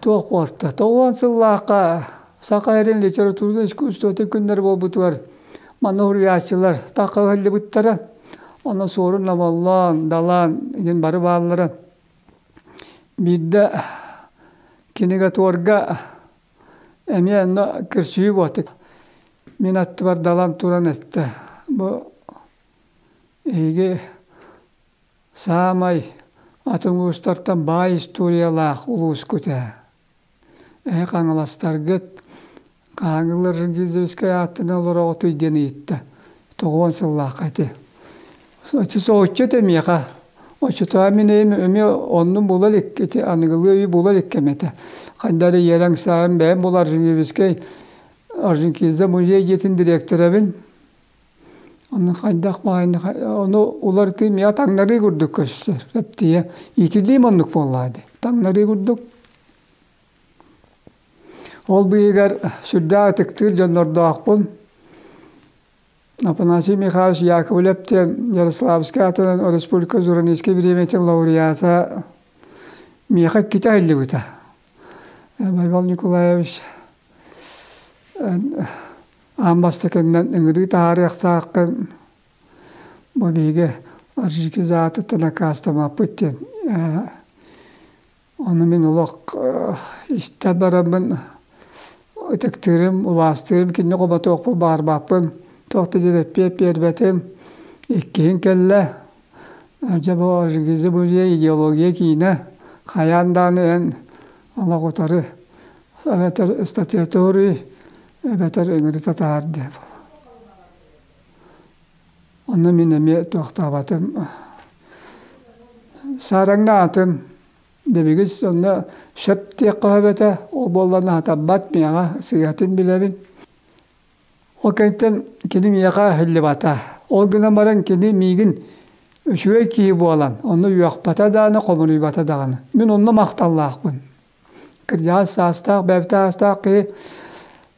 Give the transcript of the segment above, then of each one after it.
Туох буолта? Тоҕуон сыллаахха Саха эрин литература искусствотын күннэр буолбутугар манна уруйааччылар тахха ыһыллыбыттара. Онно суорун лоболлоон, далаан иһин бары бааллара. Биирдэ кинига туорга Эмиэ онно көрсүһүү буолбут. Мин аттыбар далан туран эттэ, бу эһиги саамай атын улуустартан баай историялаах улуускут ээ. Эһи хаҥаластаргыт Хаҥылар Регизовскай ааттаан олороҕутуй диэн ыйытта. Тоҕуон сыллаахха ити. Оччотооҕу миэхэ оччотооҕу мин эйэм эмиэ оннун була илик ити аныгылыы өйү була илик кэм этэ ханна эрэ ийэлэр ыксаабын бэйэм буолар Женевскэй Орджоникидзе музей дьиэтин дириэктэрэбин онно хайдах баҕайыны ону уларытыы миэхэ таҥнарыы курдук көстөр рептилия иитиллиим оннук буоллаҕа дии таҥнарыы курдук ол быыһыгар сүрдээх ытыктыыр дьоннордоохпун Афанасий Михайлович Яковлев диэн Ярославскай атынан республика Журналистскай бириэмэтин лауреата миэхэ иккитэ айыллыбыта. Байбал Николаевич аан бастакынан ыҥырыы таһаарыахтааххын бу биһиги аржики заатыттан аккаастамаппыт диэн Ону мин олох истэ бараммын ытыктыырым, убаастыырым, кини хоботуохпун, баарбаппын туох да диэтэппиэт биэрбэтим. Иккиһин кэллэ дьэ бу «Железобужье идеология» киинэ хайаан даҕаны эн олох утары эбэтэр статуэтуруй эбэтэр ыҥырыта таһаардыа буолуо. Ону мин эмиэ туохтаабатым саараҥҥа аатым дэбигис сонно сөп диэххэ сөп эбэтэ ол буоллар аатырбат миэхэ сыыһатын билэбин ол кэнниттэн кини миэхэ аһыллыбата ол гынан баран кини миигин үчүгэй киһи буолан ону үөхпэтэ даҕаны хомуруйбата даҕаны мин онно махталлаахпын кырдьаҕас саастаах бэб саастаах киһи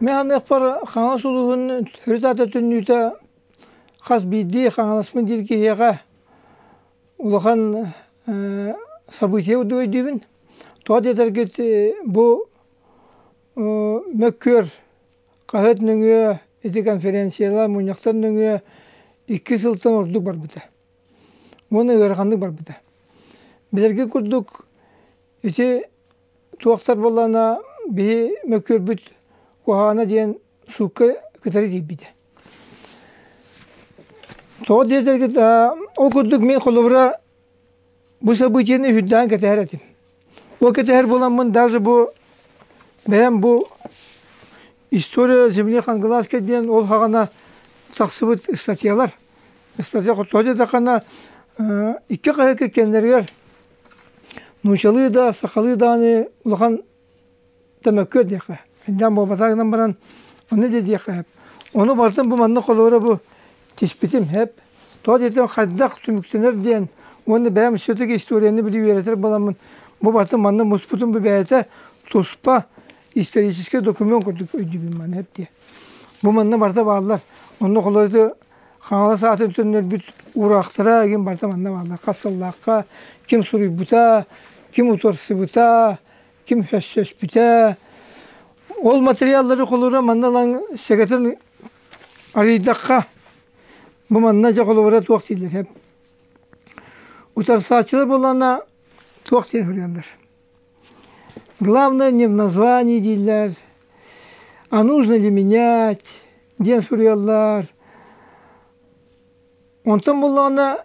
Механыахпар Хаҥалас улууһун төрүт аата түннүүтэ хас биирдии Хаҥаласпын диир киһиэхэ улахан событие дуу өйдүүбүн. Тоҕо диэтэргит бу мөккүөр хаһыат нөҥүө ити конференциялар мунньахтан нөҥүө икки сылтан ордук барбыта уонна ыараханнык барбыта билэргэ курдук ити туохтар буоллаҕына биһи мөккүөрбүт куһаҕана диэн суукка кытары тиийбитэ тоҕо диэтэргит ол курдук мин холобура Бу событиены үһүрдээн кэтэһэр этим. Бу кэтэһэр буоламмын даже бу бэйэм бу История земли Хангалаская диэн ол хаҕана тахсыбыт статьялар. Статья хотоо диэтэххинэ икки хаһыакка кэннэригэр нуучалыы да сахалыы даҕаны улахан Төмөккө диэххэ, ынньаан буолбатах гынан баран, ону да диэххэ, ону барытын бу маннык холуорура бу тиспитим эп. Тоҕо диэтэр хайдах түмүктэнэр диэн уонна бэйэм все-таки историяны билии үөрэтэр буоламмын, бу барытын манна муспутум бу бэйэтэ туспа исторический документ курдук өйдүүбүн манна эп диэ. Бу манна барыта бааллар. Онно холуоруйду Хаҥалас аатын төннөрбүт уураахтара, игин барыта манна бааллар. Хас сыллаахха, ким суруйбута, ким утарсыбыта, Ким өссөспүтэ. Ол материаллары холура манна ылан сэгэтин арыйдахха бу манна дьэ холобура туох дииллэр утарсааччылар буоллаҕына туох диэн суруйаллар. Главное не в названии дииллэр. А нужно ли менять диэн суруйаллар. Онтон буоллаҕына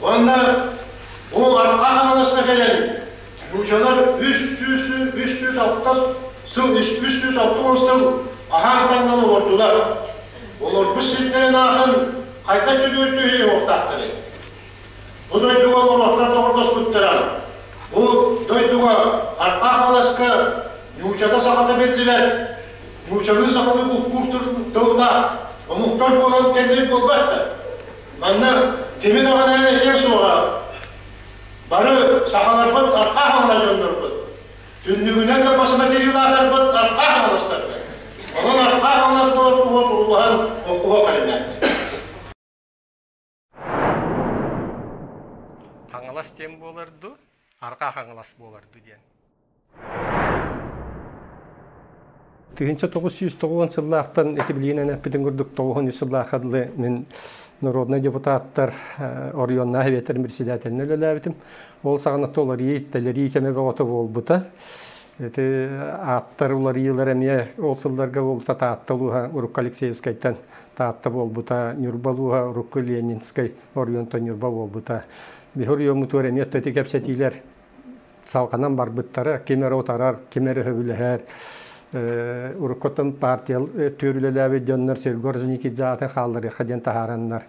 Уонна бу Арҕаа Хаҥаласка кэлэн нуучалар үс сүүс үс сүүс алтыс сыл үс сүүс алтыс сыл аһаан таҥнан олордулар. Олорбут сирдэрин аатын хайда чөлүгэр түһэрии уохтаахтарый? Бу дойдуга олорохтор доҕордоспуттара. Бу дойдуга Арҕаа Хаҥаласка нуучата сахата биллибэт, нуучалыы сахалыы булкуур тыллаах омуктар буолан кэлбит буолбаттар. Манна кими даҕаны этиэ суоҕа. Бары сахаларбыт арха аһылла дьоннорбут. Түннүгүнэн да бас материалаатарбыт арха аһылластарбыт. Онон арха аһыллас буолар уол уруһуһан оқуһа кэлиннэ. Хаҥалас диэн буолар ду, арҕаа хаҥалас буолар ду диэн. Тыһыынча тоҕус сүүс тоҕуон сыллаахтан ити билиинэн эппитин курдук тоҕуһун үс сыллаахха дылы мин народнай депутаттар оройуоннаах эбиэттэр председателинэ үлэлээбитим. Ол саҕана толории, талэрии кэмэ бөҕөтө буолбута. Ити ааттар уларыйыылар эмиэ ол сылларга буолбута Таатта улууһа урукку Алексеевскайтан Таатта буолбута, Ньурба улууһа урукку Ленинскэй оройуонтан Ньурба буолбута. Биһир ойоммутугар эмиэ ити кэпсэтиилэр салҕанан барбыттара, ким эрэ утарар, ким эрэ сөбүлэһэр. Уруккуттан партия түөр үлэлээбит дьоннор сиргэ Орджоникидзе аты хаалларыахха диэн таһаараннар,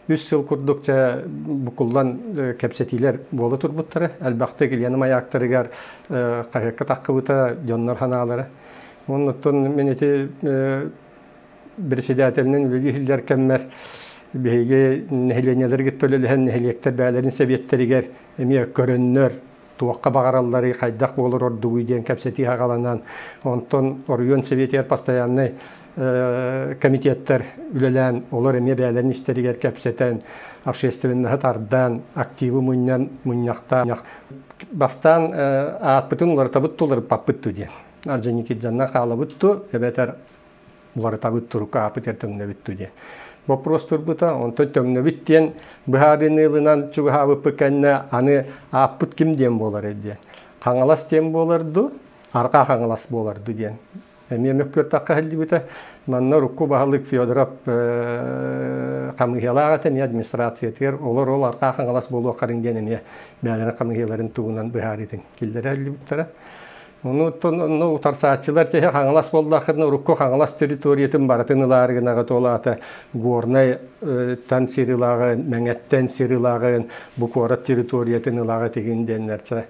үс сыл курдук чэ букуллан кэпсэтиилэр буола турбуттара. Элбэхтик Илья Маяктарыгар хаһыакка таххыбыта дьоннор санаалара. Оннуттан мин ити председателинэн үлэлии иһиллэр кэммэр биһиги нэһилиэнньэлэргэ төлөлөһөн нэһилиэктэр бэйэлэрин сэбиэттэригэр эмиэ көрөннөр туохха баҕаралларый, хайдах буолар ордугуй диэн кэпсэтии аҕаланан, онтон оройуон сэбиэтигэр постояннай комитеттар үлэлээн, олор эмиэ бэйэлэрин истэригэр кэпсэтэн, общественноһы тардан, активы мунньан мунньахтаан, бастаан аатпытын уларытабыт туларыппаппыт дуу диэн. Арже Никитзанна хаалабыт ту, эбэтэр уларытабыт турук аапытер төҥнөбүт ту диэн. Боппуруос турбута, онтон төҥнөбүт диэн быһаарыыны ылынан чугаһаабыппыт кэннэ аны ааппыт ким диэн буолар диэн. Хаҥалас диэн буолар ду, арҕаа Хаҥалас буолар ду диэн. Эмиэ мөккүөртахха сылдьыбыта. Манна урукку баһылык Федоров хамыыһыйалаах этэ, эмиэ администрациятыгар олор ол арҕаа Хаҥалас буолуоххарын диэн эмиэ бээнэрин хамыыһыйаларын тугунан быһаарыытын киллэрэ иллибиттэрэ. Онуттан онно утарсааччылар тиһэ Хаҥалас буоллаххытына урукку Хаҥалас территориятын барытын ылаары гынаҕыт ол аата Горнайтан сир ылаҕын, Мэҥэттэн сир ылаҕын, бу куорат территориятын ылаҕыт игин диэннэрчэ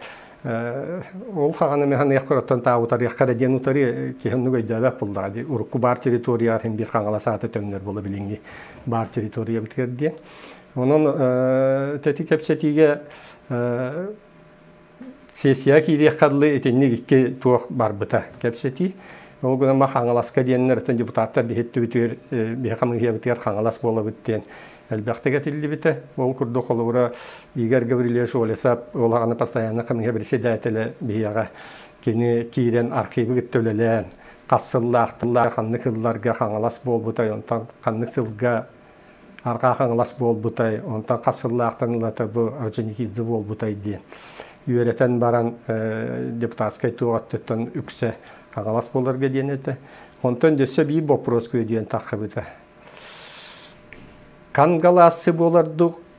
ол хаҕаны механыях көрөттөн таа утарыахха да диэн утары киһиннук өйдөөбөк буллаҕа ди урукку баар территория ахын бир хаҥалас ааты төннөр була билиҥҥи баар территория битгэр диэн онон тэти кэпсэтиигэ сессияҕа киириэххэ дылы итинник икки туох барбыта кэпсэтии. Ол гынан ба Хаҥаласка диэннэр оттон депутаттар биһиттибитигэр биһи хамыыһыйабытыгар Хаҥалас буолабыт диэн элбэхтик этиллибитэ. Ол курдук холобура Игорь Гаврильевич Олесов ол аҕаны постоянно хамыыһыйа председателэ биһиэҕэ кини киирэн архивы кытта үлэлээн хас сыллаах ханнык сылларга Хаҥалас буолбута онтон ханнык сылга Арҕаа Хаҥалас буолбутай, онтон хас сыллаахтан ылата бу Орджоникидзе буолбутай диэн. Үөрэтэн баран депутатскай туох өттүттэн үксэ Хаҥалас буоларга диэн этэ. Онтон өссө биир боппуруос күөдүйэн таххыбыта. Кангалассы буолардык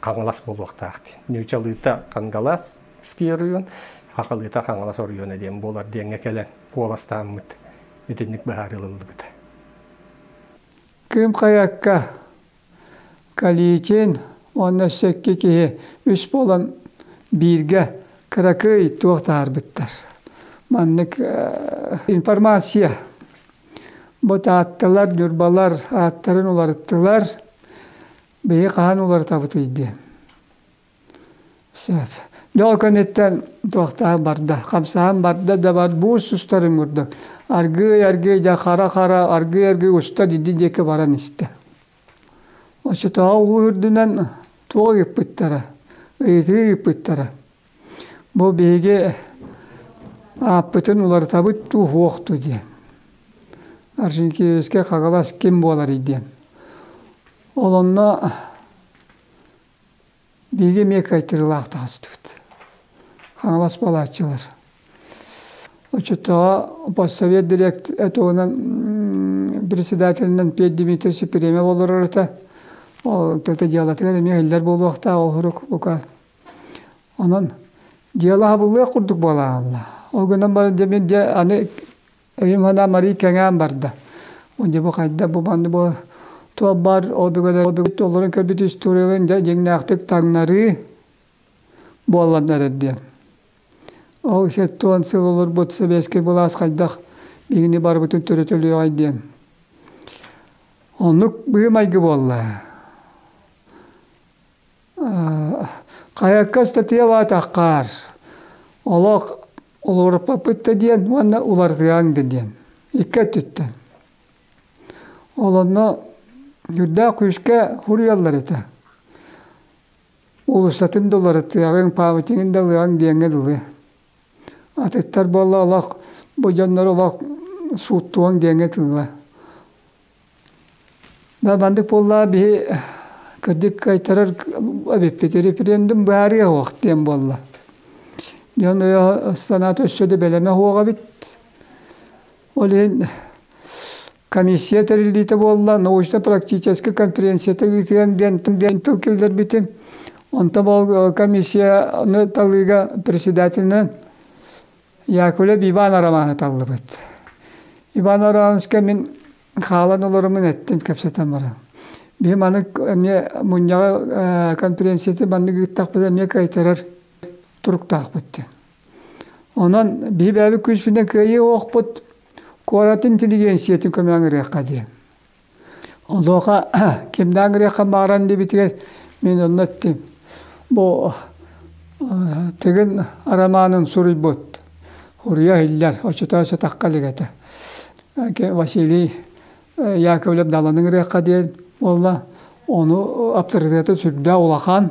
Хаҥалас буолуохтаах дии. Ньыычалыыта Кангалас ski оройуон, Хахалыыта Хаҥалас оройуона диэн буолар диэҥҥэ кэлэн куоластааммыт итинник быһаарыы ылыллыбыта. Кыым хайакка Каличин уонна сэкки киһи үс буолан бииргэ кыракый туох таһаарбыттар. Маннык информация бу таатталар, ньурбалар ааттарын уларыттылар. Биһи хаһан уларытабытый дии. Сөп. Дьэ ол кэнниттэн туохтаах барда? Хамсаан барда да бар буус устарын курдук. Аргыый-аргыый дьэ хара-хара, аргыый-аргыый уста дидди диэки баран истэ. Оччотооҕу уу үрдүнэн туох ыйыппыттара? Ыйытыы ыйыппыттара. Бу биһиги ааппытын уларытабыт дуу, суох дуу диэн. Аржинкевичке Хагалас ким буоларый диэн. Ол онно биһиги эмиэ кыайтырыылаах таҕыстыбыт. Хаҥалас балааччылар. Оччотооҕу постсовет директ этугунан председателинэн Петр Дмитриевич премия олорор этэ. Ол тыты дьыалатыгар эмиэ иһиллэр буолуохтаах ол сурук бука Онон дьыала абыллыах курдук буолаалла. Ол гынан баран дьэ мин дьэ аны өйүм анаан марий кэҥээн барда. Дьэ бу хайда бу манна бу туолбар ол бүгүн олорон көрбүт историяларын дьэ дьиҥнээхтик таҥнарыы буолланнар эр диэн. Ол сэттэ уон сыл олорбут сэбиэскэй былаас хайдах биһигини барыбытын төрөтөлүөҕэй диэн. Оннук быһыы майгы буолла. Хайакка ыстатыйа баатаххаар, олох улууруппаппыт да диэн уонна уларытыаҥ да диэн, икки өттүттэн. Ол онно үрдээх күүскэ суруйаллар этэ. Уулуссатын да уларытыаҕыҥ, пааматигын да ылыаҥ диэҥҥэ дылы. Атыттар буолла олох, бу дьоннору олох сууттуоҥ диэҥҥэ тыыла. Да маннык буоллаа биһи кырдьык кайтарар эбиппит референдум баарыа уох диэн буолла. Дьон өйө санаата өссө да бэлэмэ уоҕабыт. Ол иһин комиссия тэриллиитэ буолла научно-практическай конференцията ыытыаҥ диэн диэн тыл киллэрбитим. Онтон ол комиссияны талыыга председателинэн Якуля Иванова романы таллыбыт. Иван Романовичка мин хаалан олорумун эттим кэпсэтэн баран. Биһим аны эмиэ мунньаҕы конференцияты маннык ыыттахпыт эмиэ кыайтарар туруктаахпыт диэн. Онон биһи бэйэбит күүспүтүнэн кыайыы оһохпут куорат интеллигенциятын көмөҕө ырыахха диэн. Онуоха кимнээн гыриаххын бааран диэбитигэр мин онно эттим бу Тыгын Арамаанын суруйбут Уруйа иһиллэр оччотооҕу сатахха илик этэ Василий Яковлев даланы ыҥырыахха диэн буолла ону аптарытыата сүрдээх улахан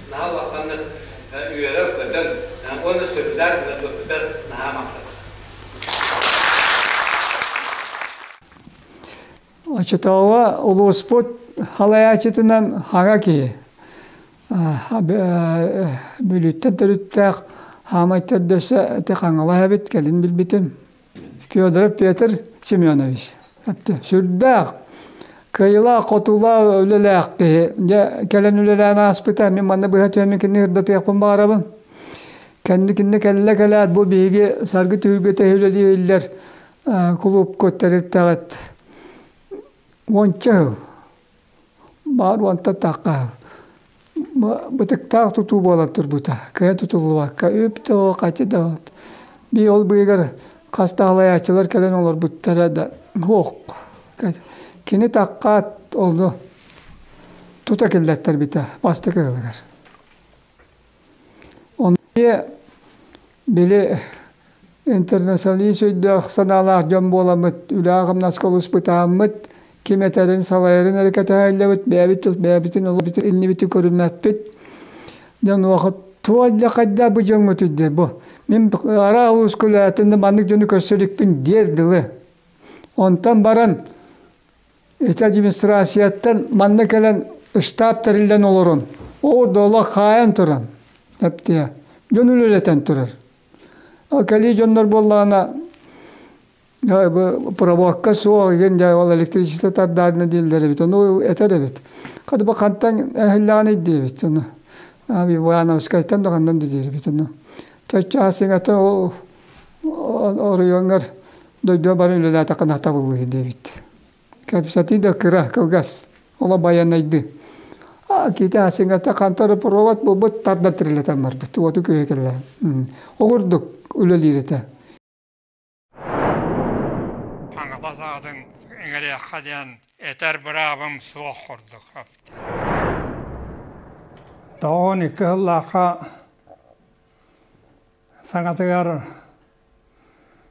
наһаа улаханнык үөрэр-көтөр уонна сөбүлээн ыҥырбыппытыгар наһаа махтанабын. Очетооҕу улууспут халайаачытынан хаҥа киһи. Бүлүттэн төрүттээх хаамай төрдөсө ти хаҥалаһабыт кэлин билбитим. Федоров Петр Семенович. Сүрдээх кыайыылаах-хотуулаах үлэлээх киһи. Дьэ, кэлэн үлэлээн ааспыта. Мин манна быһа түөммүн кинини ырдатыахпын баҕарабын. Кэнни кинини кэллэ-кэлээт бу биһиги Саргы түһүлгэтэ үлэлииллэр кулуупка тэрилтэҕит уонча сыл Баар уонтатахха бытыктаах тутуу буолан турбута кыа тутуллубакка үп да хачы да бии ол быыгар хас таалайааччылар кэлэн олорбуттара да суох кини таккаат ону тута киллэртэрбитэ бастакы ыалыгар Онно били интернационалист өйдөөх санаалаах дьон буоламмыт, үлэ-хамнаска олуспутааммыт, ким этэрин, салайарын эрэ кэтэһэллэбит, бэйэбит тыл бэйэбитин олобутун иннибитин көрүммэппит. Дьэ онуоха туох да хайдах бу дьоҥҥутуй диир бу мин аraa улуускулаатын да маннык дьону көрсө иликпин диэр дылы. Онтон баран Ити администрацияттан манна кэлэн штаб тэриллэн олорон, ол да олох хаайан туран, эптиэ, дьон үлэлэтэн турар. Кэлии дьоннор буоллаҕына, пробовка суох, иген дьэ ол электричество тардаарына дииллэр эбит, ону этэр эбит. Хата бу хантан эһиллэҕин диэбит ону. Ивановскайтан да хандан да диэбит ону. Төччө сиҥэтэ ол Оройуоҥҥар дойдуга баран үлэлээтэххинэ табыллыа диэбит. Кэпсэтии да кыра, кылгас, олох байанайдыы. Киитэ Аассыҥата хантропровод буолбут тарда тирилэтэн барбыт, уоту күөһэ кэлээн. Ол курдук үлэлиир этэ. Хаҥалас аатын иҥэриэххэ диэн этэр быраабым суох курдук. Тоҕон икки сыллаахха саҥатыгар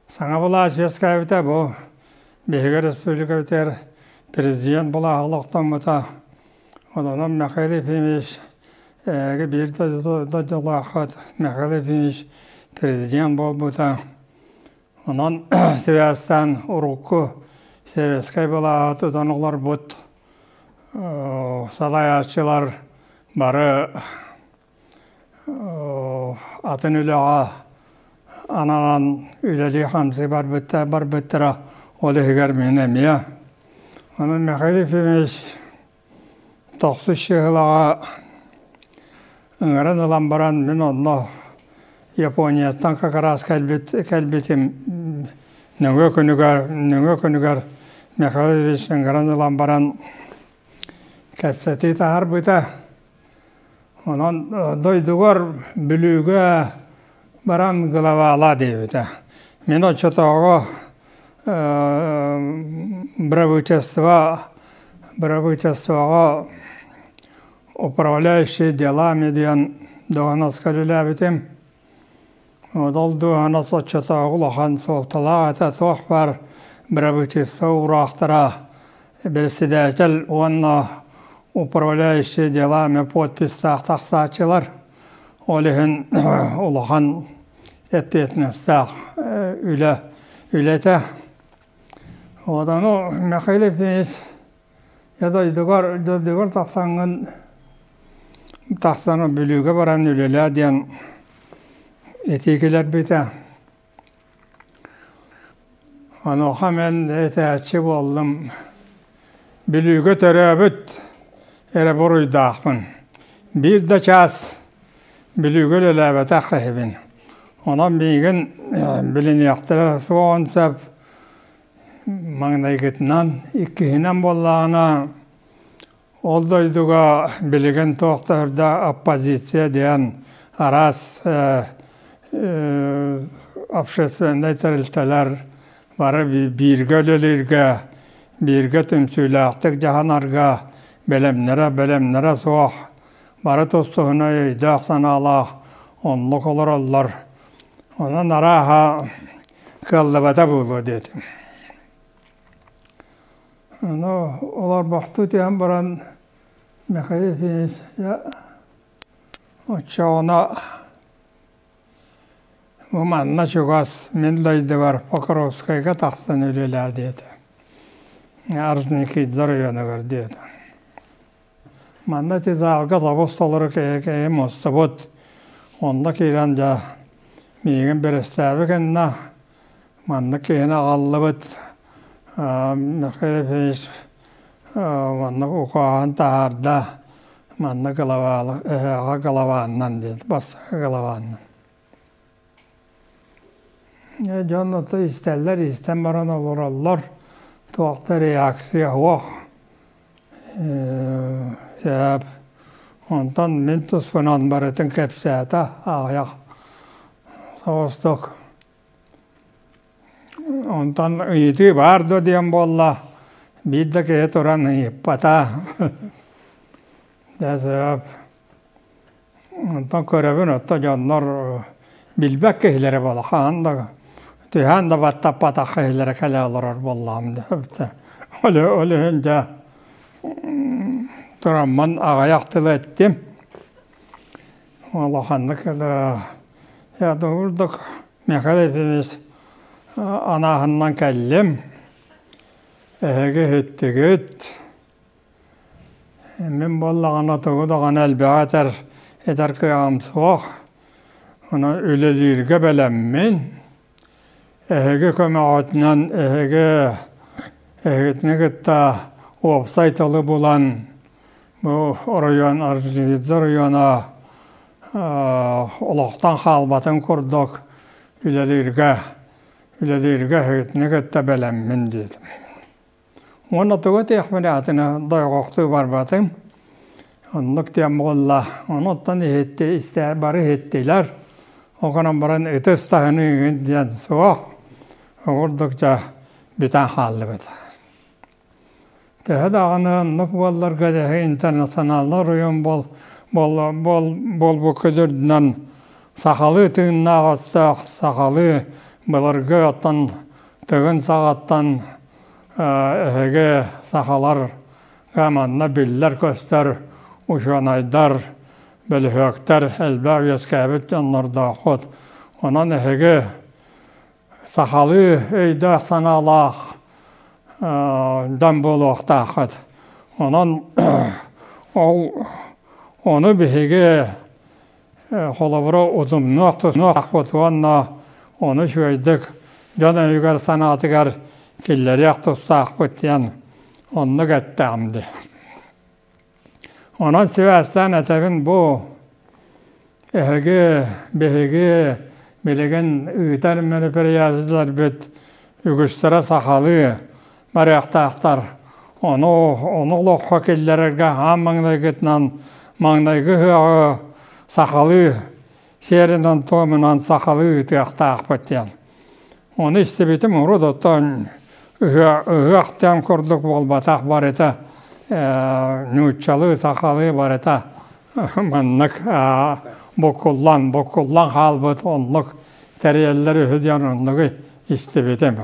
саҥа былаас үөскээбитэ бу биһиги республикабытыгар президент былааһа олохтоммута онон михаил ефимович эһиги биир дойдулааххыт михаил ефимович президент буолбута онон сибээстээн урукку сэбиэскэй былааһы тутан олорбут салайааччылар бары атын үлэҕэ ананан үлэлии-хамсыы барбыттар барбыттара ол иһигэр мин эмиэ онон Михаил Ефимович тохсус сыһылаҕа ыҥыран ылан баран мин онно Японияттан как раз кэлбит кэлбитим нөҥүө күнүгэр нөҥүө күнүгэр Михаил Ефимович ыҥыран ылан баран кэпсэтии таһаарбыта Онон дойдугар Бүлүүгэ баран главаала диэбитэ. Мин оччотооҕу бырабыыталство бырабыыталствоҕа управляющий делами диэн доҕоноска үлэлээбитим. Ол дууһана соччотооҕу улахан суолталаах этэ суох баар бырабыыталыстыба уураахтара бэрэссэдээтэл уонна управляющий делами подписьтаах тахсааччылар ол иһин улахан эппиэтинэстээх үлэ үлэтэ ону Михаил иппенович Э дойдугар дойдугар тахсаҥҥын тахсан Бүлүүгэ баран үлэлээ диэн этии кэлэрбитэ. Онуоха мин этээччи буоллум. Бүлүүгэ төрөөбүт эрэ буруйдаахпын. Биир да чаас Бүлүүгэ үлэлээбэтэх киһибин. Онон миигин билиниэхтэрэ суоҕун сөп маҥнайгытынан иккиһинэн буоллаҕына ол дойдуга билигин туохтаах да оппозиция диэн араас общественнай тэрилтэлэр бары бииргэ үлэлииргэ бииргэ түмсүүлээхтик дьаһанарга бэлэмнэрэ бэлэмнэрэ суох бары тус-туһунан өйдөөх санаалаах оннук олороллор Онон арааһа кыаллыбата буолуо диэтим. Ону олорбохтуу түһэн баран Михаил Ефимовича оччооҕуна бу манна чугас мин дойдубар Покровскайга тахсан үлэлээ диэтэ. Орджоникидзе оройуонугар диэтэ. Манна ити зааҕга табыс толору кэһэкэйи мостобут. Онно киирэн дьэ миигин бэрэстээби кэннэ маннык киһини аҕаллыбыт Михаил Ефимович манна укааһын таһаарда. Манна главаала эһэҕэ главаанынан диэн бастакы главаанынан. дьон ото истэллэр истэн баран олороллор туохта реакция суох сээп онтон мин туспунан барытын кэпсээтэ аҕыйах соҕустук онтон ыйытыы баар дуо диэн буолла биир да киһи туран ыйыппата дьэ Онтон көрөбүн оттон дьоннор билбэт киһилэрэ буолла хаһан да түһээн да баттаппатах киһилэрэ кэлэ олорор буоллаҕым диэбитэ ол ол иһин дьэ тураммын аҕыйах тылы эттим улаханнык да я думаю ордук Михаил Ефимович анааһынынан кэллим эһиги иһиттигит Мин буоллаҕына тугу даҕаны элбэҕи этэр этэр кыаҕым суох, онон үлэлииргэ бэлэммин. Эһиги көмөҕүтүнэн эһиги эһигитини кытта уопсай тылы булан бу оройуон Орджоникидзе оройуона олохтон хаалбатын курдук үлэлииргэ үлэлииргэ эһигитини кытта бэлэммин диэтим. Уонна тугу этиэхпиний атыны дойҕохтуу барбатым. Оннук диэн буолла. Онуттан иһитти истээ бары иһиттилэр. Ол гынан баран ытыс таһыныыгын диэн суох. Ол курдук дьэ бүтэн хааллыбыт. Төһө даҕаны оннук буолларга дэһи интернационаллар уйун бол бол бол болбукка үрдүнэн сахалыы тыыннаах оттоох сахалыы былыргы оттон тыгын саҕаттан эһиги сахаларга манна биллэр-көстөр учуонайдар, бөлүһүөктэр элбэх үөскээбит дьоннордооххут. Онон эһиги сахалыы өйдөөх-санаалаах дьон буолуохтааххыт. Онон ол, ону биһиги Холобура, удумнуох-тутнуох уонна ону үчүгэйдик дьон өйүгэр-санаатыгар киллэриэх тустаахпыт диэн оннук эттэҕим дии. Онон сибээстээн этэбин бу эһиги, биһиги билигин ыытар мероприятиеларбыт үгүстэрэ сахалыы, барыахтаахтар. Ону ону олоххо киллэрэргэ аан маҥнайгытынан маҥнайгы ыһыаҕы сахалыы сиэринэн-туомунан сахалыы ыытыахтаахпыт диэн. Ону истибитим урут оттон ыһыах, ыһыах диэн курдук буолбатах барыта нууччалыы, сахалыы барыта маннык букуллан, букуллан хаалбыт оннук тэрийэллэр үһү диэн оннугу истибитим.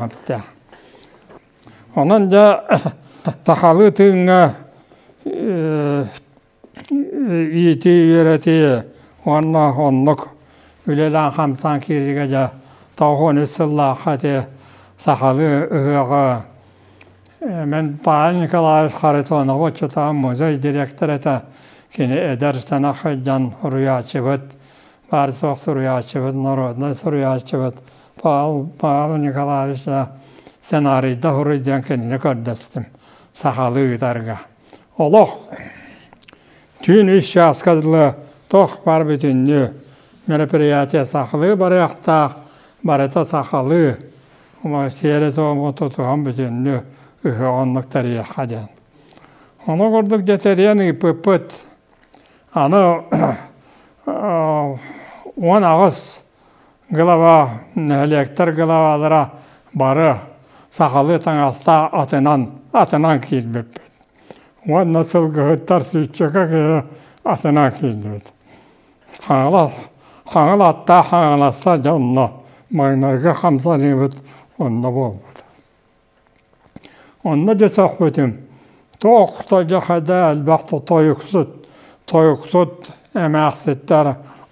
Онон дьэ сахалыы тыыҥҥа иитии, үөрэтии уонна оннук үлэлээх хамсаан киириигэ дьэ тоҕус уон үс сыллаахха ити сахалыы ыһыаҕы мин Павел Николаевич Харитонову учууталым музей директор этэ, кини эдэр сэнэх дьон, уруйааччыбыт, Арсох суруйааччыбыт, норуодунай суруйааччыбыт Павел, Павел Николаевича сценарийда хоруй диэн кинини көрдөстүм сахалыы ыытарга. Олох түүн үс чааска дылы тох бар бүтүннүү мероприятие сахалыы барыахтаах, барыта сахалыы сиэри-туому тутуһан бүтүннүү ыһы оннук тэрийэххэ диэн. Ону курдук детериан ыыппыппыт Аны уон аҕыс глава нэһилиэктэр главалара бары сахалыы таҥастаах атынан атынан киирбиппит уонна сылгыһыттар сүүччэкэ киһи атынан киирдибит хаҥалас хаҥыл аттаах хаҥаласта дьонно маҥнайгы хамсаныыбыт онно буолбут Онно десэхпитим тоохто дьэ хадаа элбэхтэ тойуксут тойуксут эмээхситтэр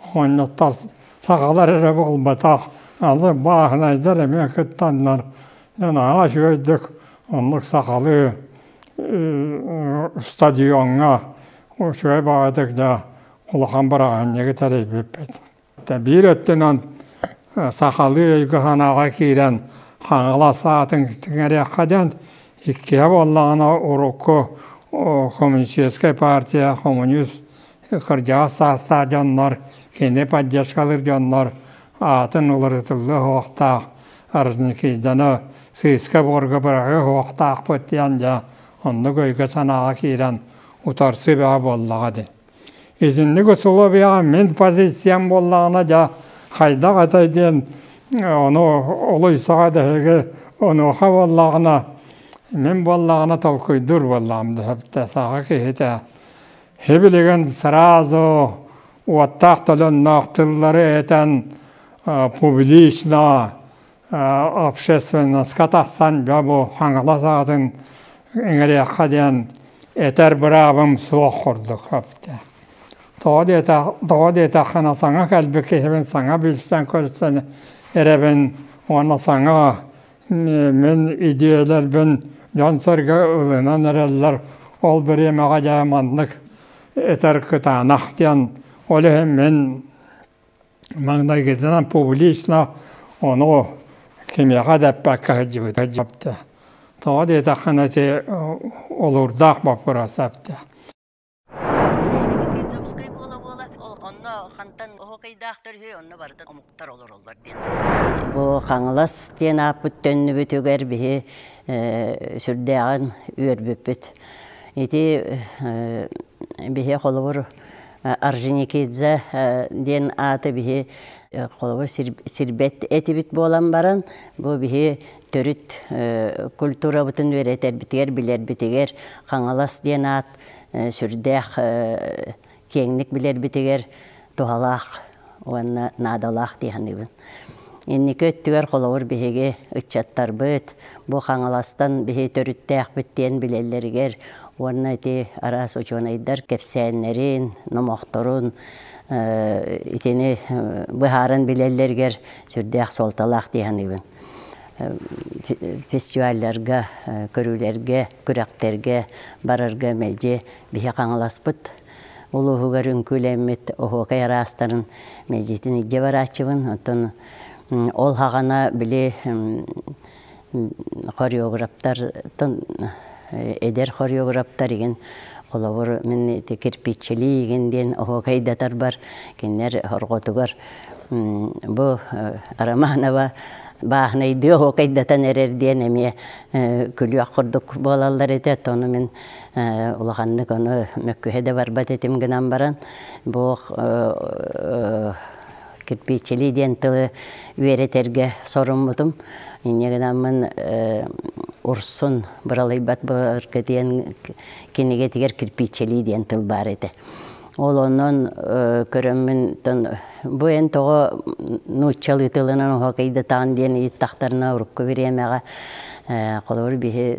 оҕонньоттор сахалар эрэ буолбатах алы бааһынайдар эмиэ кыттаннар дьэ наһаа үчүгэйдик оннук сахалыы стадиоҥҥа учугэй баҕатык да улахан бырааһынньыгы тэрийбиппит биир өттүнэн сахалыы өйгө санааҕа киирэн хаҥалас аатын тиҥэриэххэ диэн иккиһэ буоллаҕына урукку коммунистическай партия коммунист кырдьаҕас саастаах дьоннор кини поддержкалыыр дьоннор аатын уларытыллыа суохтаах аржникиданы сыыска буорга быраҕыа суохтаахпыт диэн дьэ оннук өйгө санааҕа киирэн утарсыы бөҕө буоллаҕа дии Итинник усулуобуйаҕа мин позициям буоллаҕына дьэ хайдах этэй диэн ону олус саҕа дэһиги онуоха буоллаҕына мин буоллаҕына толкуйдуур буоллаҕым дэһэбитэ саха киһитэ һи-билигин сразу уоттаах толонноох тыллары этэн публично общественноска тахсан дьэ бу Хаҥалас аатын иҥэриэххэ диэн этэр быраабым суох курдук эптэ. Тоҕо диэтэх, тоҕо диэтэххинэ саҥа кэлбит киһибин саҥа билсэн-көрсөн эрэбин уонна саҥа мин идиэйэлэрбин дьон-сэргэ ылынан эрэллэр. Ол бириэмэҕэ дьэ маннык этэр кытаанах диэн ол иһин мин Маҥнайгытынан публично ону кимиэхэ да эппэккэ сылдьыбыта дьэпти тоҕо диэтэххинэ ити олурдаах боппуруос эптэ Инники Дьокуускай буола-буола онно хантан оһуокайдаахтар үһү онно барытын омуктар олороллор диэн санаата. Бу Хаҥалас диэн ааппыт төннүбүтүгэр биһи сүрдээҕин үөрбүппүт. Ити биһи холобур Орджоникидзе диэн ааты биһи холобур сирбэт этибит буолан баран бу биһи төрүт культурабытын үөрэтэрбитигэр билэрбитигэр Хаҥалас диэн аат сүрдээх киэҥник билэрбитигэр туһалаах уонна наадалаах дии саныыбын. Инники өттүгэр холобур биһиги ыччаттарбыт бу Хаҥаластан биһи төрүттээхпит диэн билэллэригэр уонна ити араас учуонайдар кэпсээннэрин, номохторун итини быһааран билэллэригэр сүрдээх суолталаах дии саныыбын. Фестивалларга, көрүүлэргэ, күрэхтэргэ барарга мэлдьи биһи Хаҥаласпыт улууһугар үҥкүүлэммит оһуокай араастарын мэлдьитин илдьэ барааччыбын оттон ол хаҕана били хореографтартан эдэр хореографтар игин холобур мин ити кирпиччилии игин диэн оһуокайдатарбар кинилэр хорҕотугар бу романова бааһынайдыы оһуокайдатан эрэр диэн эмиэ күлүөх курдук буолаллар этэ ону мин улаханнык ону мөккүһэ да барбат этим гынан баран бу кирпииччилии диэн тылы үөрэтэргэ соруммутум инньэ гынаммын урсун быралыйбат былыргы диэн кинигэтигэр кирпииччилии диэн тыл баар этэ Ол онон көрөммүнтэн бу эн тоҕо нууччалыы тылынан оһокейдатаан диэн ыйыттахтарына урукку бириэмэҕэ холобур биһи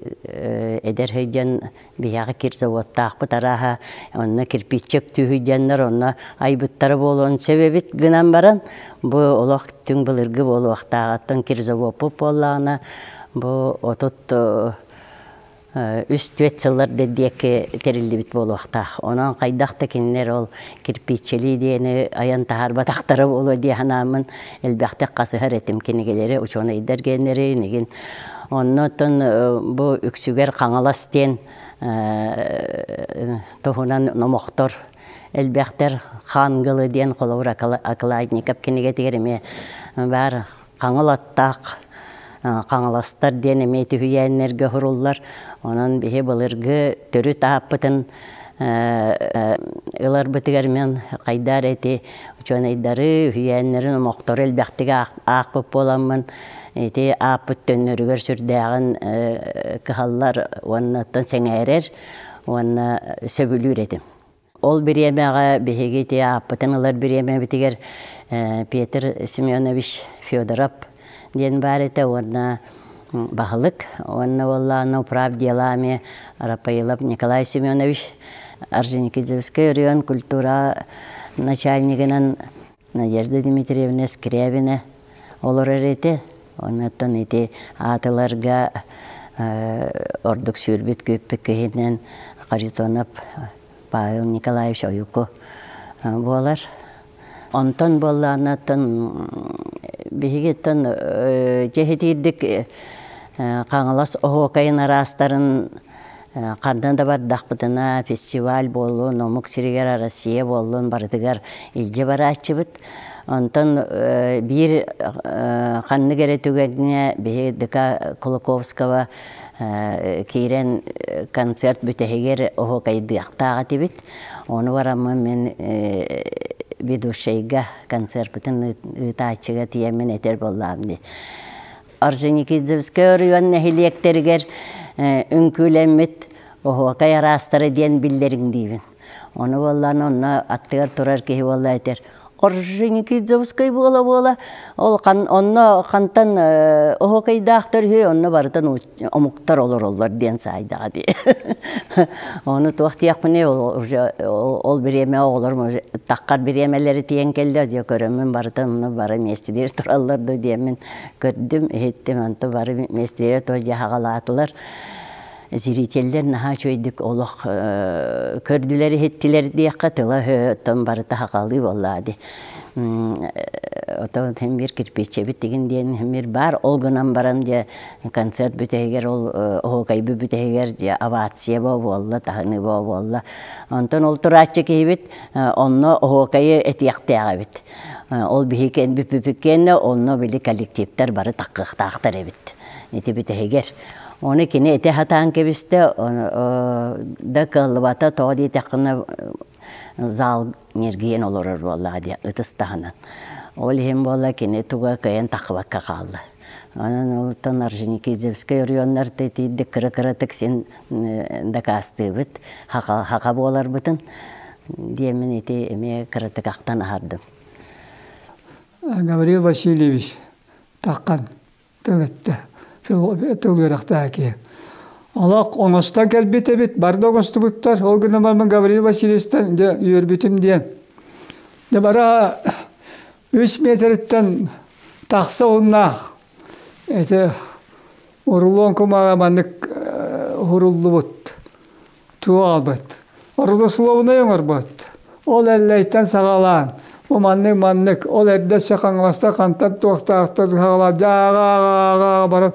эдэр сылдьан биһиэхэ кир заводтаахпыт арааһа онно кирпиччэ өктүүһүйдэннэр онно айбыттара буолуон сөбөбүт гынан баран бу олох түҥ былыргы буолуохтааҕыттан кир завоппут буоллаҕына бу отут үс-түөрт сыллар да диэки тэриллибит буолуохтаах. Онон хайдах да кинилэр ол кирпииччэлии диэни айан таһаарбатахтара буолуо дии санааммын элбэхтик хасыһар этим кинигэлэри учуонайдар геннэри инигин. Оннуттан бу Үксүгэр Хаҥалас диэн туһунан номохтор элбэхтэр Хаангылы диэн холобур окладников кинигэтигэр эмиэ баар Хаҥыл аттаах Хаҥаластар диэн эмиэ үһүйээннэргэ уһуруллар. Онон биһи былыргы төрүт ааппытын ыларбытыгар мен хайдаар эти учуонайдары үһүйээннэрин омохтору элбэхтик аахпыт буоламмын ити ааппыт төннөрүгэр сүрдээҕин кыһаллар уонна оттон сэҥээрэр уонна сөбүлүүр этим. Ол бириэмэҕэ биһиги ити ааппытын ылар бириэмэбитигэр Петр Семенович Федоров диэн баар этэ уонна баһылык уонна уоллаана управ делами Рапоилов Николай Семенович Орджоникидзевскай оройуон культура начальнигынан Надежда Дмитриевна Скрябина олорор этэ. Оннуттан ити аатыларга ордук сүүрбүт күүппүт киһинэн Харитонов Павел Николаевич Ойуку буолар. Онтон буоллааннаттан биһигиттэн дьэһитиирдик Хаҥалас оһуокайын араастарын Ханна да бардахпытына фестиваль буоллун, омук сиригэр Россия буоллун барытыгар илдьэ барааччыбыт. Онтон биир ханнык эрэ түгэҥҥэ биһи ДК Кулаковского киирэн концерт бүтэһигэр оһуокайдыахтаах этибит. Ону бараммын мин ведущайга концерпытын ыытааччыга тиийэммин этэр буоллаҕым дии. Орджоникидзевское оройуон нэһилиэктэригэр үҥкүүлэммит оһуокай араастара диэн биллэриҥ диибин. Ону буоллаан онно аттыгар турар киһи буолла этэр Орджоникидзевскай буола-буола ол онно хантан оһуокайдаахтар үһү онно барытын омуктар олороллор диэн саайдаҕа дии. Ону туох диэхпиний уже ол бириэмэ оҕолорум таккар бириэмэлэри тиийэн кэллэ дьэ көрөммүн барытын бары миэстэлиир тураллар да диэммин Көрдүм, иһиттим, онто бары миэстэлэр то дьаһаҕалаатылар. Зрителлэр наһаа үчүгэйдик олох көрдүлэр иһиттилэр диэххэ тыла өһөттөн барыта сахалыы буоллаа дии. Оттон иһин бир кирпииччэбит тигин диэн иһин бир баар, ол гынан баран дьэ концерт бүтэһигэр ол оһуокайбы бүтэһигэр дьэ овация бо буолла, таһыныы бо буолла. Онтон ол турааччы киһибит онно оһуокайы этиэхтээх эбит. Ол биһиги кэннэ онно били коллективтар бары таккыахтаахтар эбит ити бүтэһигэр ону кини ити сатаан кэбистэ да кыаллыбата тоҕо диэтэххинэ зал ньиргийэн олорор буоллаҕа диэн ытыс таһынан ол иһин буолла кини туга кыайан тахсыбакка хаалла Онон олортон Орджоникидзевскай оройуоннарыта итийдик кыра-кыратык син дакаастыыбыт, хаха, хаха буоларбытын диэмин ити эмиэ кыратык ахтан аһардым. Гавриил Васильевич Таххан тыл эттэ, тыл үөрэхтээки. Олох оҥостон кэлбит эбит, бары да оҥостубуттар. Ол гынан баран Гавриил Васильевичтан дьэ үөрбүтүм диэн. Дьэ бара үс миэтириттэн тахса ууннаах ити урулуон кумаҕа маннык уруллубут туу аалбыт родословнай оҥорбут ол эллэйтэн саҕалаан бу маннык маннык ол эрдэ өссө хаҥаласта хантан туохтаахтар саҕалаан дьааҕа баран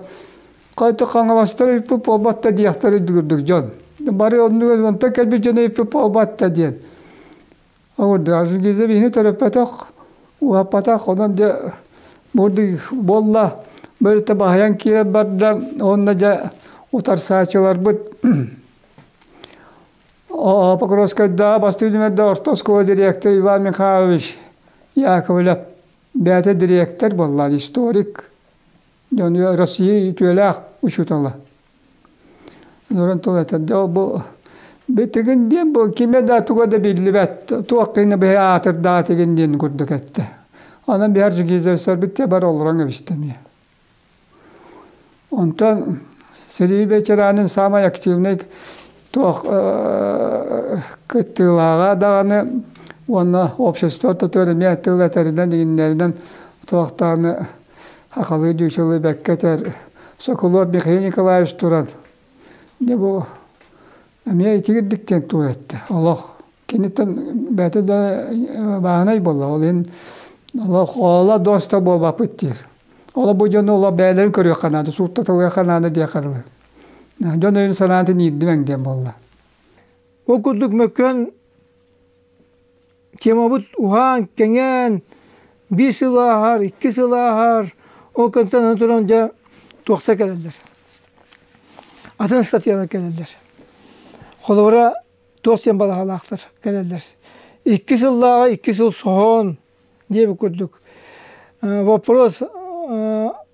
хайта хаҥаластар ыйпыт буолбат да диэхтэр үрдүгүрдүк дьон бары оннугар онтон кэлбит дьон ыйпыт буолбат да диэн Ол даже Гиза биһини төрөппөтөх, уһаппатах, онон дьэ буолла бэртэ баһыйан киирэн барда уонна дьэ утарсааччыларбыт Покровскайдааҕы бастыҥ түмэлдэ орто оскуола дириэктэр Иван Михайлович Яковлев бэйэтэ дириэктэр буоллаан историк, дьон Россия үтүөлээх учуутала. Олорон тыл этэр, дьэ ол бу битигин диэн бу кимэ да туга да биллибэт туох гына биһи аатырдаатыгын диэн курдук этэ. Онон Бихар Жигизевичтарбыт те бар олорон кэбистэние. Онтон Сергей Вечеранин самай активнай туох кыттыылааҕа даҕаны уонна общество тутур эмиэ тыл этэринэн игиннэринэн туохтааны Сахалыы дьыычалыы бэккэ этэр Соколов Михаил Николаевич туран дьэ бу эмиэ итигирдик диэн туоретта олох киниттэн бэйэтэ да бааһынай буолла ол иһин олох ола дуоста буолбаппыт диир оло бу дьону оло бэйэлэрин көрүөххэ наада сууттатылыахха наада диэ харылы дьон өйүн санаатын иирдимэҥ диэн буолла ол курдук мөккүөн темабыт уһаан-кэҥээн биир сыл ааһар, икки сыл ааһар, ол кэнниттэн аны туран дьэ туохта кэлэллэр, атын статьялар кэлэллэр. Холобура, туох диэн балаһалаахтар кэлэллэр. Икки сыллааҕы икки сыл соһон диэбит курдук, э, боппуруос э,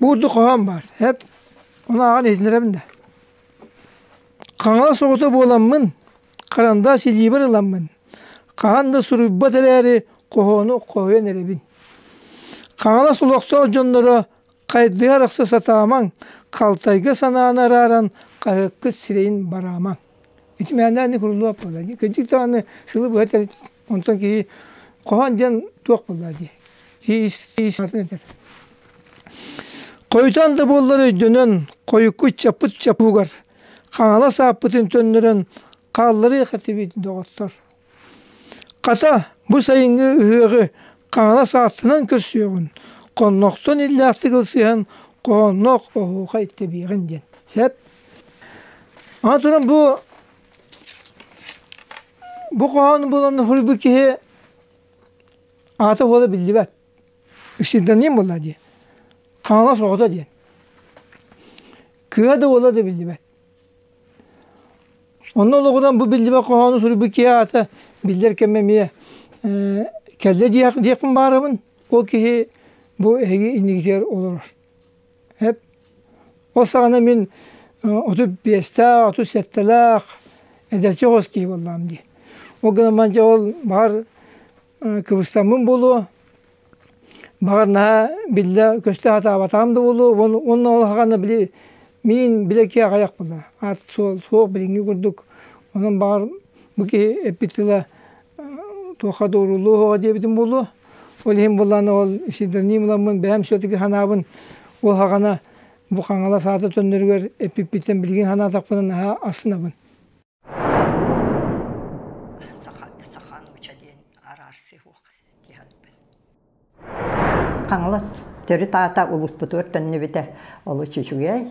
Буурда хоһоон баар, эп унааҕын иһитиннэрэбин да Хаҥалас оҕото буоламмын, харандаас илиибэр ыламмын, хаһан да суруйбат эрээри, хоһоону хоһуйан эрэбин. Хаҥалас олохтоох дьонноро хайдыһа арахса сатаамаҥ, халтайга санааны арааран хаһыаккыт сирэйин бараамаҥ Ити мээнээнэ крыло буолла дии. Кырдьык даҕаны сылы быһа этэр онтон киһи хоһоон диэн туох буолла дии. Киһи ис атын этэр. Хойутаан да буоллар өйдөнөн, хойукку ыччаппыт чаппыгар Хаҥалас ааппытын төннөрөн хаалларыах этибит доҕоттор. Хата, бу сайыҥҥы ыһыаҕы Хаҥалас ааттынан көрсүөҕүн, хоннохтон иллээхтик ылсыһан хоһоонноох оһуохай тэбиэҕин диэн. Сөп? Аны туран бу бу хоһоону булан суруйбут киһи аата буола биллибэт. Исчитанием буолла дии. Хаҥалас оҕото диэн. Кыа да буола да биллибэт. Онно олоҕунан бу биллибэт хоһоону суруйбут киһи аата биллэр кэмэ эмиэ кэллэ диэхпин баарыбын. Ол киһи бу эһиги иннигитигэр олорор. Эп ол саҕана мин отут биэстээх, отут сэттэлээх эдэрчи оҕус киһи буоллаҕым дии. Ол гынан баран дьэ ол баҕар кыбыстаммын буолуо баҕар наһаа биллэ көстө сатаабатаҕым да буолуо уонна ол аһаҕана били миин били киэҕэйэхпин да аат суох билиҥҥи курдук онон баҕар бу киһи эппит тыла туохха да уруулуо суоҕа диэбитим буолуо ол иһин буоллаҕына ол псевдоним ыламмын бэйэм все-таки санаабын ол аһаҕана бу хаҥалас аата төннөрүгэр эппиппиттэн билигин санаатахпына наһаа асынабын Саха саха нууча диэн араарсыы суох киһи Хаҥалас төрүт аата улууспутугар төннүбүтэ олус үчүгэй.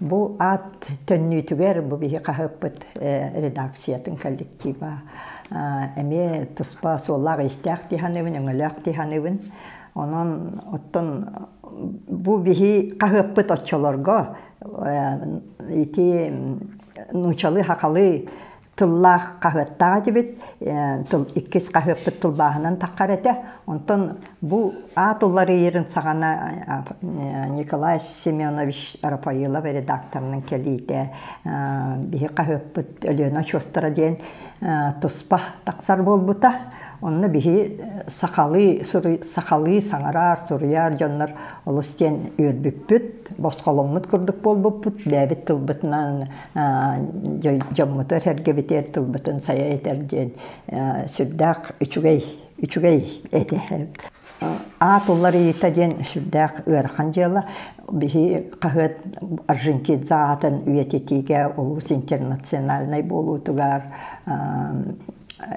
Бу аат төннүүтүгэр бу биһи хаһыаппыт редакциятын коллектива эмиэ туспа суоллаах-иистээх тиһаныыбын, өҥөлөөх тиһаныыбын. Онон оттон бу биһи хаһыаппыт оччолорго ити нуучалыы-хахалыы тыллаах хаһыаттаах этибит иккис хаһыаппыт тылбааһынан таххар этэ онтон бу аат уларыйарын саҕана Николай Семенович Рафаилов редакторынан кэлиитэ биһи хаһыаппыт Өлүөнэ очуостара диэн туспа тахсар буолбута онно биһи сахалыы сахалыы саҥарар суруйар дьоннор олус диэн үөрбүппүт босхоломмут курдук буолбуппут бэйэбит тылбытынан дьоммуту эрэргэбитигэр тылбытын сайа этэр диэн сүрдээх үчүгэй үчүгэй этэ аат уларыйыта диэн сүрдээх ыарахан дьыала биһи хаһыат аржентинца аатын үйэтитиигэ улуус интернациональнай буолуутугар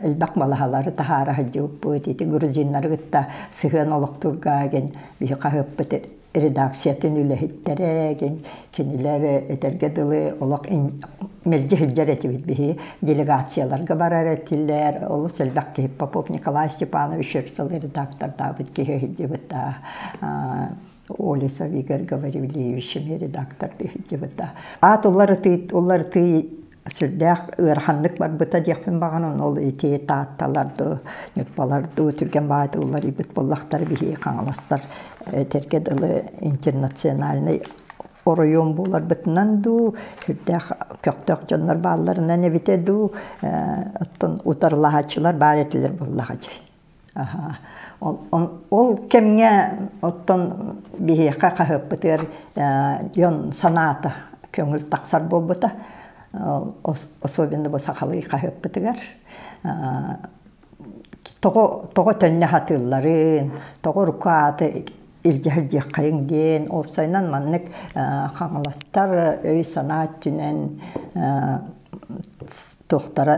элбэх малаһалары таһаара сылдьыбыппыт ити грузиннары кытта сыһыан олохтурга ген биһи хаһыаппыт редакциятын үлэһиттэрэ, кинилэр этэргэ дылы олох мэлдьи сылдьар этибит биһи делегацияларга барар этилэр олус элбэх киһи Попов Николай Степанович Шерсталы редактордаабыт киһи сылдьыбыт Олесов Игорь Гаврильевич редактор сылдьыбыта аат уларытыы уларытыы Сүрдээх ыараханнык барбыта диэхпин баҕан, ону ол ити таатталар дуу, ньурбалар дуу түргэн баайда уларыйбыт буоллахтар биһиги хаҥаластар этэргэ дылы интернациональнай оройуон буоларбытынан дуу, сүрдээх көхтөөх дьоннор баалларынан эбитэ дуу, оттон утарылаһааччылар баар этилэр буоллаҕа дии. Ол кэмҥэ оттон биһиэхэ хаһыаппытыгар дьон санаата көҥүл тахсар буолбута, особенно бу сахалыы хаһыаппытыгар. Тоҕо төннө сатыылларын, тоҕо руку ааты илдьэ сылдьыаххайыҥ диэн уопсайынан маннык хаҥаластар өй-санаа өттүнэн туохтара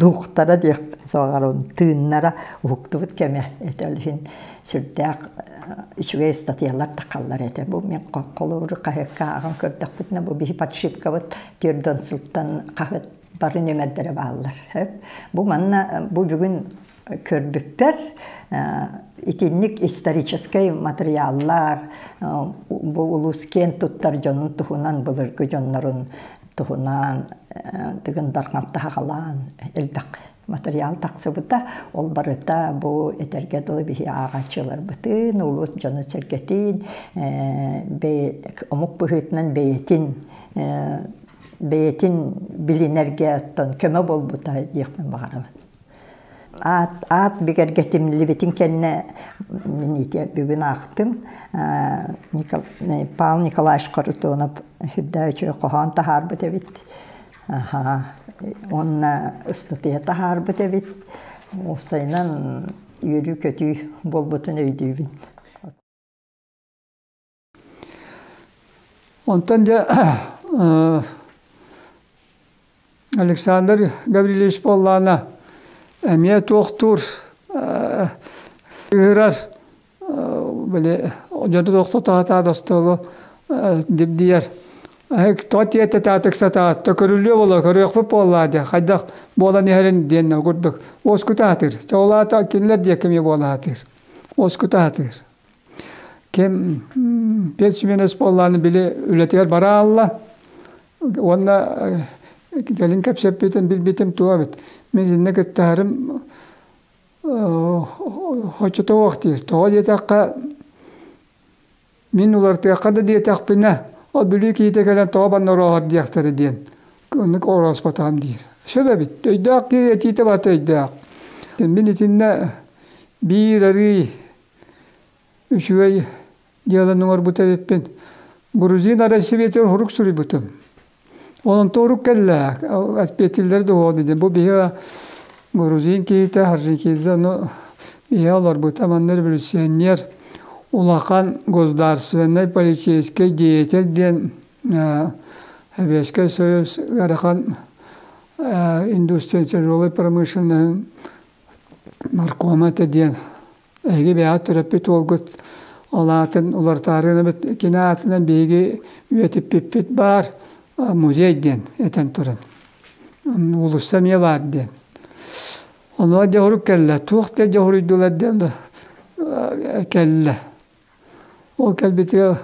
дууhtара диэхпин суоҕарабын тыыннара уһуктубут кэмэ этэ ол иһин сүрдээх үчүгэй ыстатыйалар тахаллар этэ бу мин холобур хаһыакка ааҕан көрдөхпүтүнэ бу биһи подшипкабыт түөрдэн сылтан хаһыат бары нүмердэрэ бааллар бу манна бу бүгүн көрбүппэр итинник историческай материаллар бу улус киэн туттар дьонун туһунан былыргы дьоннорун туһунан тыгын дарҕанта хагалаан элбэх материал тахсыбыта ол барыта бу этэргэ дылы биһи ааҕаччыларбытын улус дьону сэргэтин омук быһыытынан бэйэтин бэйэтин билинэргэ оттон көмө буолбута диэхпин баҕарабын Аат аат бигэргэтиллибитин кэннэ мин ити бүгүн аахтым Павел Николаевич Харитонов үрдээ үчүгэй хоһоон таһаарбыт эбит аха уонна ыстатыйа таһаарбыт эбит уопсайынан үөрүү-көтүү буолбутун өйдүүбүн Онтон дьэ Александр Гаврильевич буоллаҕына эмиэ туохтуур ыырар били дьоду тохтотоотоот остуолу дибдийэр тоҕо тиэртэтаатык сатаат көрүллүө буолуо көрүөхпүт буоллаа диэ хайдах буолан иһэрин диэннэр курдук уоскута сатыыр чэ ол аата кинилэр диэки эмиэ буола сатыыр уоскута сатыыр Ким персименес буоллааны били үлэтигэр бараалла уонна кэлин кэпсэппитим билбитим туох эбит мин итиннэ кыттыһарым хочото уох дии тоҕо диэтэххэ мин улартыахха да диэтэхпинэ ол бүлүү киһитэ кэлэн тоҕо баннорооһор диэхтэрэ диэн оннук орооспотоом диир сөп эбит өйдөөх киһи этиитэ барыта өйдөөх мин итиннэ биир арыы Үчүгэй дьыаланы оҥорбут эбиппин. Грузина Россиябитин урук суруйбутум. Олонтоорук кэллэ, отпетиллер да буолан дии. Бу биһиги грузин киһитэ, аржинкидзе ону биһиги олорбута. Манна революционер, улахан государственнай полицейский деятель диэн Союз ыарахан индустриал тяжелой промышленноһын наркома этэ диэн эһиги бэйэҕит төрөппүт уолгут ол аатын уларытаарыынабыт кини аатынан биһиги үйэтиппиппит баар музей диэн этэн туран уулусса эмиэ баар диэн онуоха дьоһурук кэллэ туох да дьоһуруйдулар диэн да кэллэ Ол кэлбитигэр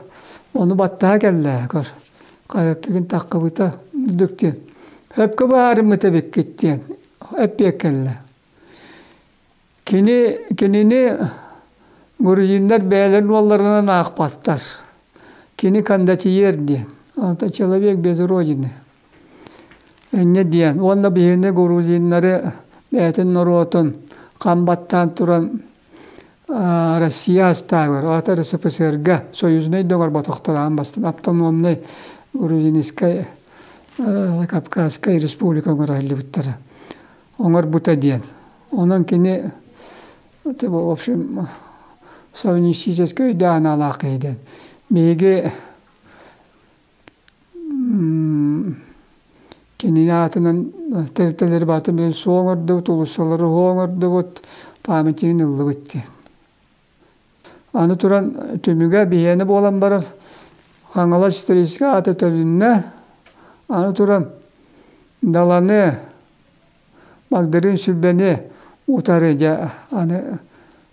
ону баттаһа кэллэ көр хайаттыгын таххыбыта үрдүк диэн өпкө баарыммыт эбиккит диэн эппиэк кэллэ кини кинини грузиннар бэйэлэрин уолларынан аахпаттар кини кондотьер диэн это человек без родины инньэ диэн уонна биһини грузиннары бэйэтин норуотун хам баттаан туран Россия астаабыгар, аата РСФСР-га союзнай доҕорботохтороон бастан автономнай Грузинскай, Кавказскай республика оҥоруллубуттара. Оҥорбута диэн. Онон кини в общем совместническэй өйдөөх аналаах киһи диэн. Биһиги Кинини аатынан тэрилтэлэри барытын билэн суу оҥордубут, уулуссалары уһу оҥордубут, памятнигын ыллыбыт диэн. Аны туран түмүгэ биһиэнэ буолан барар Хаҥалас историческай ааты төлүннэ. Аны туран Даланы, Багдарыын Сүлбэни утары дьэ аны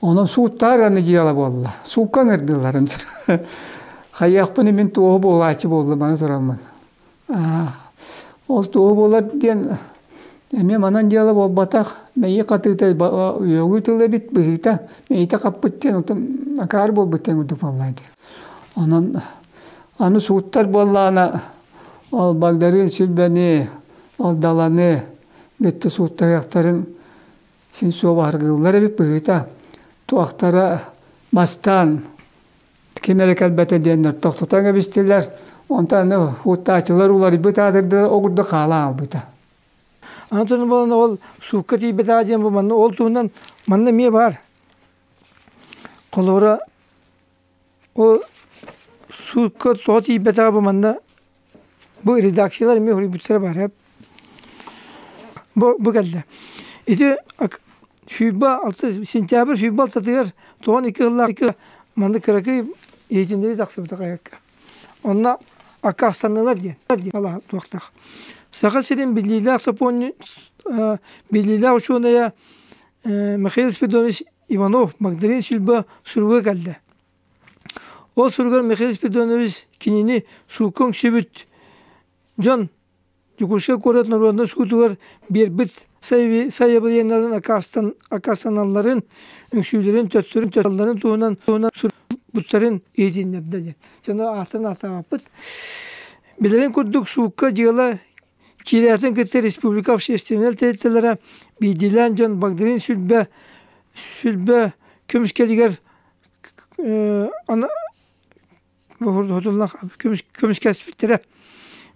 Онон сууттаах аны дьыала буолла. Суукка ыҥырдылларын Хайыахпын мин туоһу буолааччы буоллумана тураммын. Ол туоһу буолар диэн эмиэ манан дьыала буолбатах. Мэйии хатыыта үөгү тыл эбит быһыыта мэйитэ хаппыт диэн отон акаар буолбут диэн курдук буолла ди. Онон аны сууттар буоллаана ол Багдарыын Сүлбэни, ол Даланы гытта сууттаһыахтарын син суобаһыргыыллар эбит быһыыта туохтара бастаан ким эрэ кэлбэтэ диэннэр тохтотон кэбистилэр онтон уоттааччылар уларыйбыт аатырда огурду хаалан аалбыта аны туран буолан ол суукка тиийбэт аа диэн бу манна ол туһунан манна эмиэ баар холобура Ол суутка тоҕо тиийбэтэҕэ бу манна бу редакциялар эмиэ суруйбуттара баара бу бу кэллэ ити сүүрбэ алта сентябрь сүүрбэ алтатыгар тоҕон икки сыллаахтык манна кыракый иһитиннэрии тахсыбыта хайакка онно аккаастаннылар диэн туохтаах саха сирин биллиилээх сопонньу биллиилээх учуонайа михаил спиридонович Иванов Магдалина Сильба суруга кэллэ. Ол суругар Михаил Спиридонович кинини сууккун сүбүт дьон Дьокуускай куорат норуодунай суутугар биэрбит сайабылыанньаларын аккаастаналларын, үҥсүүлэрин, төттөрүн-төттөрүн туһунан суруттарын иһитиннэрдэ диэн. Дьону ааттан аатаабаппыт. Билэрин курдук, суукка дьыала Киирээтин кытта республика общественнай тэрилтэлэрэ биирдиилээн дьон багдарыын сүлбэ сүлбэ көмүскэлигэр хотулла көмүскэспиттэрэ.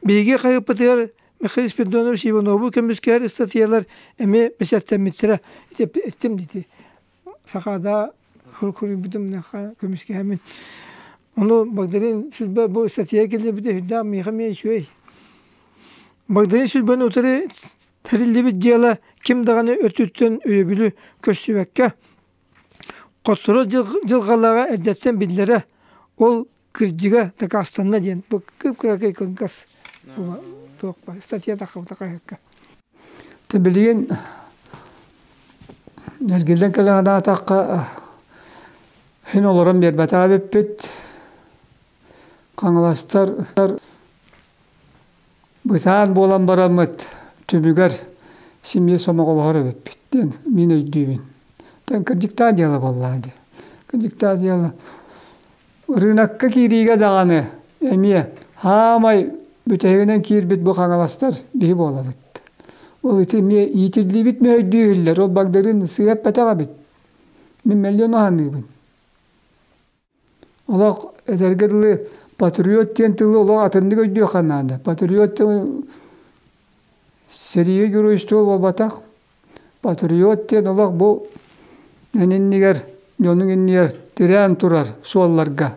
Биһиги хаһыаппытыгар Михаил Спиридонович Иванову көмүскэһэр ыстатыйалар эмиэ бэсэртэммиттэрэ итим дити саха да суруйбутум миэхэ көмүскээмин ону Багдарыын Сүлбэ бу статья киллэрбитэ сүрдээх миэхэ эмиэ үчүгэй Багдарыын Сүлбэни утары тэриллибит дьыала ким даҕаны өттүттэн өйөбүлү көрсүбэккэ хотторор дьылҕалааҕа эрдэттэн биллэрэ ол Кырдьыга дакаастанна диэн бу кыракый кылгас туох баар статьята хабыта хайакка то билигин эргиллэн кэлэҕинаатахха син олорон биэрбэтаа эбиппит хаҥаластар Бытаан буолан бараммыт түбүгэр семья сомоҕолоһор эбиппит диэн мин өйдүүбүн. Диэн кырдьыктаан дьыала буоллаҕа дии. Кырдьыктаан дьыала. Ырыынакка киириигэ даҕаны эмиэ хаамай бүтэһигинэн киирбит бу хаҥаластар биһи буолабыт. Ол ити эмиэ иитиллибит мы өйдүү иһиллэр. Ол багдырын сыа эппэтэх эбит. Мин мэллиэн саныыбын. Олох этэргэ дылы патриот диэн тылы олох атыннык өйдүөххэ наада. Патриот тылы сэрии геройство буолбатах. Патриот диэн олох бу эн иннигэр, дьонуҥ иннигэр тирээн турар суолларга.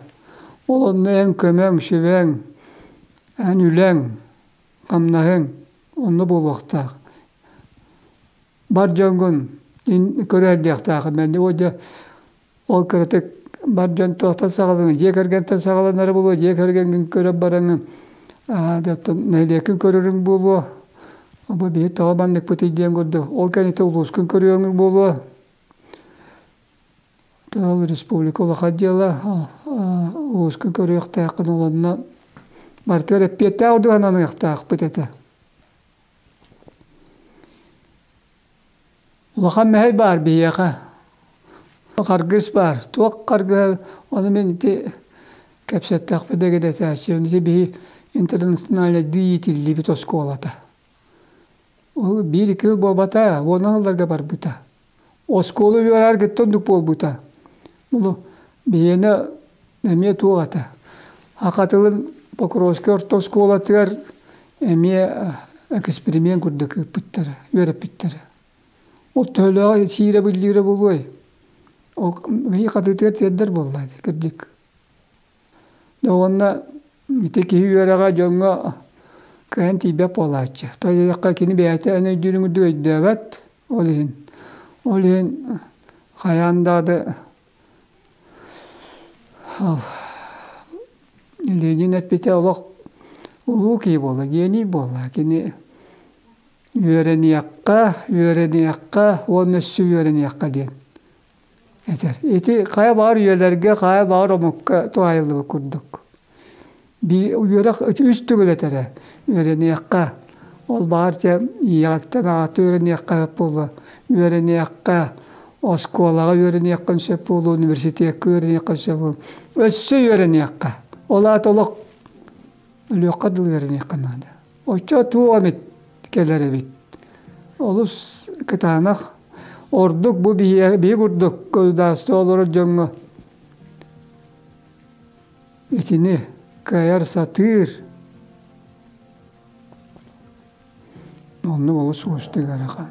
Ол онно эн көмөҥ, сүбэҥ, эн үлэҥ, хамнаһыҥ онно буолуохтаах. Бар дьоҥҥун көрөһөр диэхтээххин мende. Ол дьэ Ол кыратык бар дьон туохтан саҕаланыҥ, дьиэ кэргэнтэн саҕаланары буолуо, дьиэ кэргэҥҥин көрө бараҥын, оттон нэһилиэккин көрөрүҥ буолуо, бу биһи тоҕо манныкпытый диэн курдук, ол кэнниттэн улуускун көрүөҥ буолуо. Ол республика улахан дьыала, улуускун көрүөхтээххин, ол онно барытыгар эппиэттээх ордук ананыахтаахпыт этэ. Улахан мэһэй баар биһиэхэ харгыс баар туох харгыһа ону мин ити кэпсэттэхпинэ дэгидэтээччим ити биһи интернациональнайдыы иитиллибит оскуолата биир-икки сыл буолбата уонан ылларга барбыта Оскуола үөрэҕэр кытта оннук буолбута. Булу биһиэнэ эмиэ туох этэ, саха тылын Покровскай орто оскуолатыгар эмиэ эксперимент курдук ыыппыттара, үөрэппиттэрэ. Ол төһөлөөх сиирэ-биллиирэ буолуой? Ол биһиги хатыытыгар тиэрдэр буолла кырдьык. Уонна ити киһи үөрэҕэ дьоҥҥо кыайан тиийбэт буолааччы. Тоҕо диэтэххэ кини бэйэтэ эн өйдүүрүн курдук өйдөөбөт, ол иһин ол иһин хайаан даҕаны Ленин эппитэ олох улуу киһи буолла, гений буолла. Кини үөрэниэххэ, үөрэниэххэ уонна өссө үөрэниэххэ диэн этэр ити хайа баар үйэлэргэ хайа баар омукка туһайыллыбыт курдук бии үөрэх үс төгүл этэрэ үөрэниэххэ ол баар дьэ ийэҕиттэн аҕата үөрэниэххэ сөп буолуо үөрэниэххэ оскуолаҕа үөрэниэххин сөп буолуо университекка үөрэниэххин сөп буолуо өссө үөрэниэххэ ол аата олох өлүөххэ дылы үөрэниэххэ наада. Оччо туох эмит кэлэр эбит. Олус кытаанах ордук бу биһиги курдук кудастаа олорор дьоҥҥо итини кыайар сатыыр Онно олус уустук ыарахан.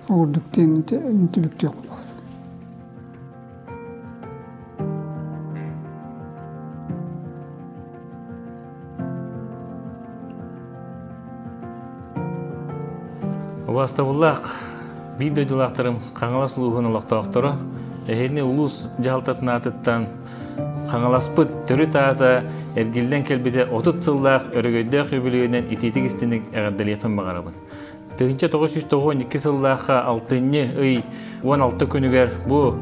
Ол курдук диэн түбүктүөх баар. Убаастабыллаах биир дойдулаахтарым Хаҥалас улууһун олохтоохторо эһиэли улуус дьаһалтатын аатыттан Хаҥаласпыт төрүт аата эргиллэн кэлбитэ отут сыллаах өрөгөйдөөх үбүлүөйүнэн итиитик истиник эҕэрдэлиэхпин баҕарабын. Тыһыынча тоҕус жүз тоҕуон икки сыллаахха алтынньы ый уон алта күнүгэр бу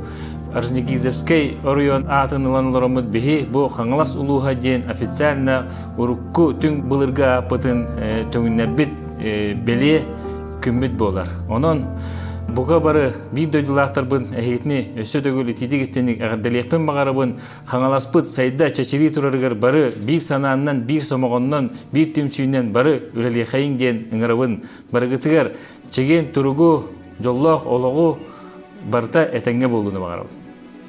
Аржнегизовскай оройуон аатын ылан олороммут биһи бу Хаҥалас улууһа диэн официально урукку түҥ былыргы ааппытын э, төҥүннэрбит э, бэлиэ күммүт буолар. Онон бука бары биир дойдулаахтарбын эһиитини өссө төгүл итиитик-истиник эҕэрдэлиэхпин баҕарабын хаҥаласпыт сайда чэчирии турарыгар бары биир санааннан биир сомоҕоннон биир түмсүүнэн бары үлэлиэхэйиҥ диэн ыҥырабын барыгытыгар чэгиэн туругу дьоллоох олоҕу барыта этэҥҥэ буолууну баҕарабын